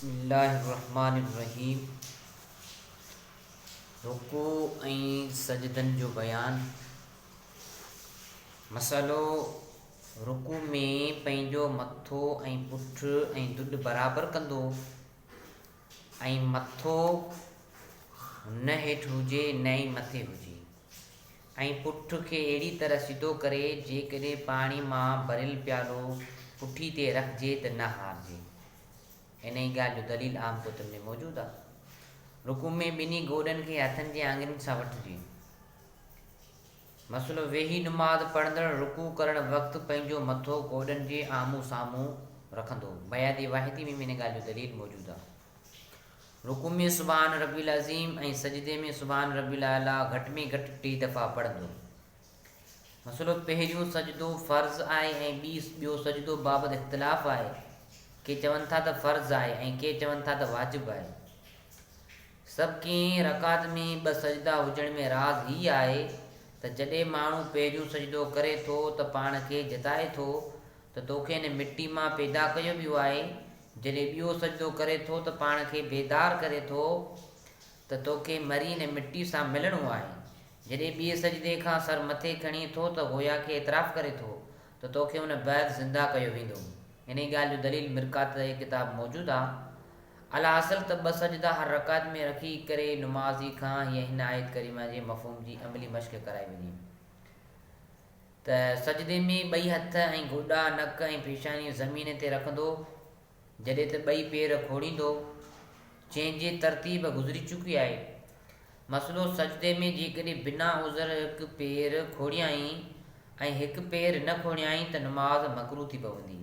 بسم الله الرحمٰن الرحيم رڪوع ۽ سجدن جو بيان مسئلو رڪوع ۾ پنهنجو مٿو ۽ پٺ ۽ دڏ برابر ڪندو ۽ مٿو نه هيٺ هجي نه ئي مٿي هجي ۽ پٺ کي اهڙي طرح سڌو ڪري جيڪڏهن پاڻي مان ڀريل پيالو پٺي تي رکجي ته نه هارجي انهيء ڳالهه جو دليل عام ڪتن ۾ موجود آهي. رڪوع ۾ ٻنهي گوڏن کي هٿن جي آڱرين سان وٺجي. مسئلو، ويهي نماز پڙهندڙ رڪوع ڪرڻ وقت پنهنجو مٿو گوڏن جي آمهون سامهون رکندو. بيادي واحدي ۾ به ان ڳالهه جو دليل موجود آهي. رڪوع ۾ سبحان ربي العظيم ۽ سجدي ۾ سبحان ربي الاعليٰ گهٽ ۾ گهٽ ٽي دفعا پڙهندو. مسئلو پهريون سجدو فرض آهي ۽ ٻي ٻيو سجدو بابت اختلاف آهي، ڪي چون ٿا ته فرض آهي ۽ ڪي چون ٿا ته واجب آهي. سڀ ڪنهن رڪعت ۾ ٻه سجدا هجڻ ۾ راز هي آهي ته جڏهن ماڻهو پهريون سجدو ڪري ٿو ته پاڻ کي جتائي ٿو ته توکي هن مٽي مان پيدا ڪيو ويو آهي، جڏهن ٻيو سجدو ڪري ٿو ته پاڻ کي بيدار ڪري ٿو ته توکي مري هن مٽي سان ملڻو آهي. جڏهن ٻئي سجدي کان سر مٿي کڻي ٿو ته گويا ڪي اعتراف ڪري ٿو ته توکي ان بعد زنده ڪيو ويندو. انهي ڳالهه جو دليل مرقات جي ڪتاب موجود آ. الحاصل ته ٻه سجدا هر رڪعت ۾ رکي ڪري نمازي کان هيء هن آيت ڪريمه جي مفهوم جي عملي مشق ڪرائي وڃي ته سجدي ۾ ٻئي هٿ ۽ گوڏا، نڪ ۽ پيشانيون زمين تي رکندو، جڏهن ته ٻئي پير کوڙيندو، جنهن جي ترتيب گذري چڪي آهي. مسئلو سجدي ۾ جيڪڏهن بنا عذر هڪ پير کوڙيائين ۽ هڪ پير نه کوڙيائين ته نماز مڪروه ٿي پوندي.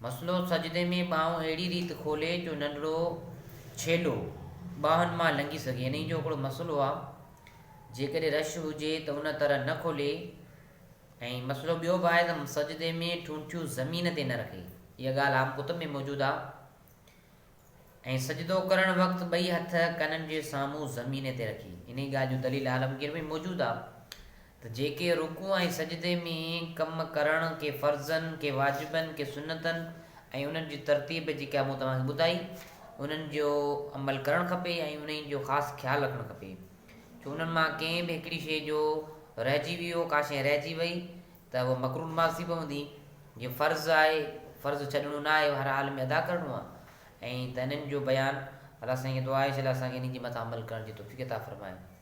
مسئلو سجدي ۾ ٻانهون اهڙي ريت کولي جو ننڍڙو ڇيلو ٻانهن مان لنگهي سگهي انهي جو هڪڙو مسئلو آهي جيڪڏهن رش هجي ته ان طرح نه کولي ۽ مسئلو ٻيو به آهي ته سجدي ۾ ٺونٺيون زمين تي نه رکي، اها ڳالهه عام ڪتب ۾ موجود آهي ۽ سجدو ڪرڻ وقت ٻئي هٿ ڪنن جي سامهون زمين تي رکي، انهي ڳالهه جو دليل عالمگير ۾ موجود آهي ته جيڪي رڪوع ۽ سجدي ۾ ڪم ڪرڻ ڪي فرضن، ڪي واجبن، ڪي سنتن ۽ انهن جي ترتيب جيڪا مون توهان کي ٻڌائي، انهن جو عمل ڪرڻ کپي ۽ انهي جو خاص خيال رکڻ کپي. جو انهن مان ڪنهن به هڪڙي شيء جو رهجي ويو، ڪا شيء رهجي وئي ته اها مڪروهه نماز ٿي پوندي، جيئن فرض آهي، فرض ڇڏڻو نه آهي، هر حال ۾ ادا ڪرڻو آهي. ائين ته انهن جو بيان الله سائين کي دعا آهي چې الله اسان کي انهن جي مٿان عمل ڪرڻ جي توفيق عطا فرمائي.